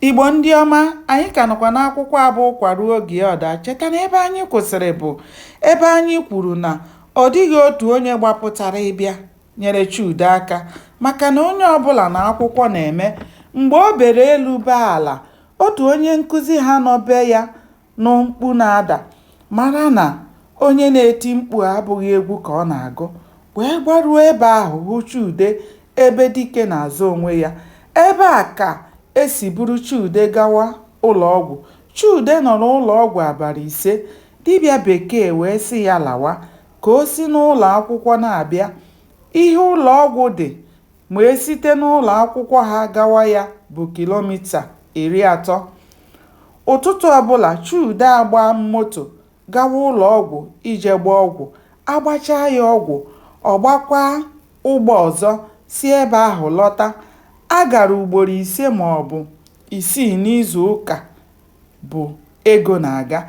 Igbo ndị ọma, anyị ka nọkwa n'akwụkwọ a bụ Ụkwa ruo oge ọ daa. Cheta na ebe anyị kwụsịrị bụ ebe anyị kwuru na ọ dịghị otu onye gbapụtara ịbịa nyere Chude aka maka na onye ọbụla na akwụkwọ na-eme mgbe o bere elu bee ala. Otu onye nkụzi ha nọ be ya nụ mkpu na-ada. Mara na onye na-eti mkpu abụghị egwu ka ọ na-agụ. Wee gbaruo ebe ahụ hụ Chude ebe dike na-azọ onwe ya. Ebe a ka e si buru Chude gawa ụlọọgwụ. Chude nọrọ ụlọọgwụ abalị ise. Dibịa Bekee wee sị ya lawa ka o si n'ụlọakwụkwọ na-abịa. Ihe ụlọọgwụ dị ma e site n'ụlọ akwụkwọ ha gawa ya bụ kilomita iri atọ. Ụtụtụ ọbụla, Chude agbaa moto gawa ụlọ ọgwụ ije gbaa ọgwụ. A gbachaa ya ọgwụ, ọ gbakwaa ụgbọ ọzọ si ebe ahụ lọta. A gara ugboro ise ma ọ bụ isii n'izu ụka bụ ego na-aga.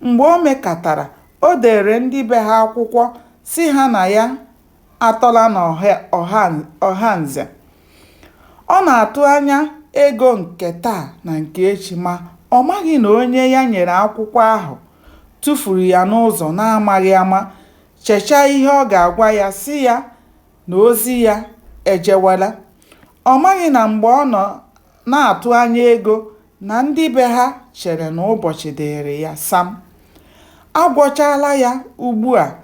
Mgbe o mekatara, o deere ndị be ha akwụkwọ sị ha na ya atọla n'Ọhanze. Ọ na-atụ anya ego nke taa na nke echi ma ọ maghị na onye ya nyere akwụkwọ ahụ tufuru ya n'ụzọ n'amaghị ama, chechaa ihe ọ ga-agwa ya sị ya na ozi ya ejewela. Ọ maghị na mgbe ọ nọ na-atụ anya ego na ndị be ha chere na ụbọchị dịịrị ya sam. A gwọchaala ya ugbua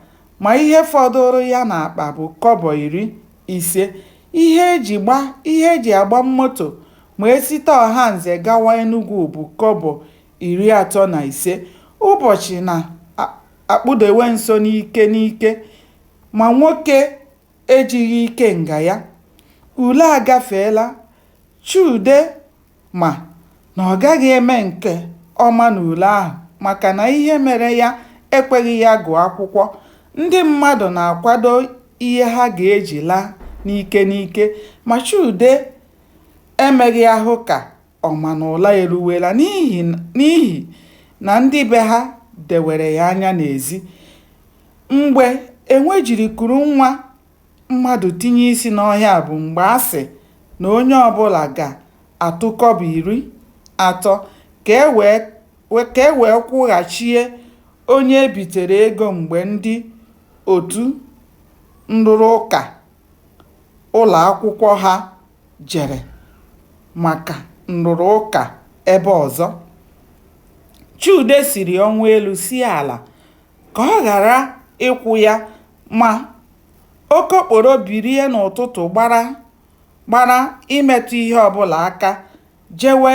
ma ihe fọdụụrụ ya n'akpa bụ kọbọ iri ise. Ihe e ji gba ihe e ji agba moto ma e site Ọhanze gawa Enugwu bụ kọbọ iri atọ na ise. Ụbọchị na-akpụdewe nso n'ike n'ike ma nwoke ejighị ikenga ya. Ule agafeela. Chude ma na ọ gaghị eme nke ọma n'ule ahụ maka na ihe mere ya ekweghị ya gụọ akwụkwọ, ndị mmadụ na-akwado ihe ha ga-eji laa n'ike n'ike ma Chude emeghị ahụ ka ọ ma na ụla eruwela n'ihi na ndị be ha dewere ya anya n'ezi. Mgbe enwe jiri kuru nwa mmadụ tinye isi n'ọhịa bụ mgbe a sị na onye ọbụla ga-atụ kọbọ iri atọ ka e wee ka e wee kwụghachie onye e bitere ego mgbe ndị otu nrụrụ ụka ụlọ akwụkwọ ha jere maka nrụrụ ụka ebe ọzọ. Chude siri ọnwụ elu sie ala ka ọ ghara ịkwụ ya Ma, okokporo birie n'ụtụtụ gbara gbara imetụ ihe ọ bụla aka jewe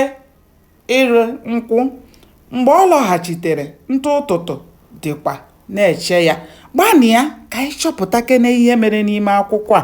ịrị nkwụ. Mgbe ọ lọghachitere, ntụ ụtụtụ dịkwa na-eche ya. Gbanịa ka anyị chọpụtakene ihe mere n'ime akwụkwọ a.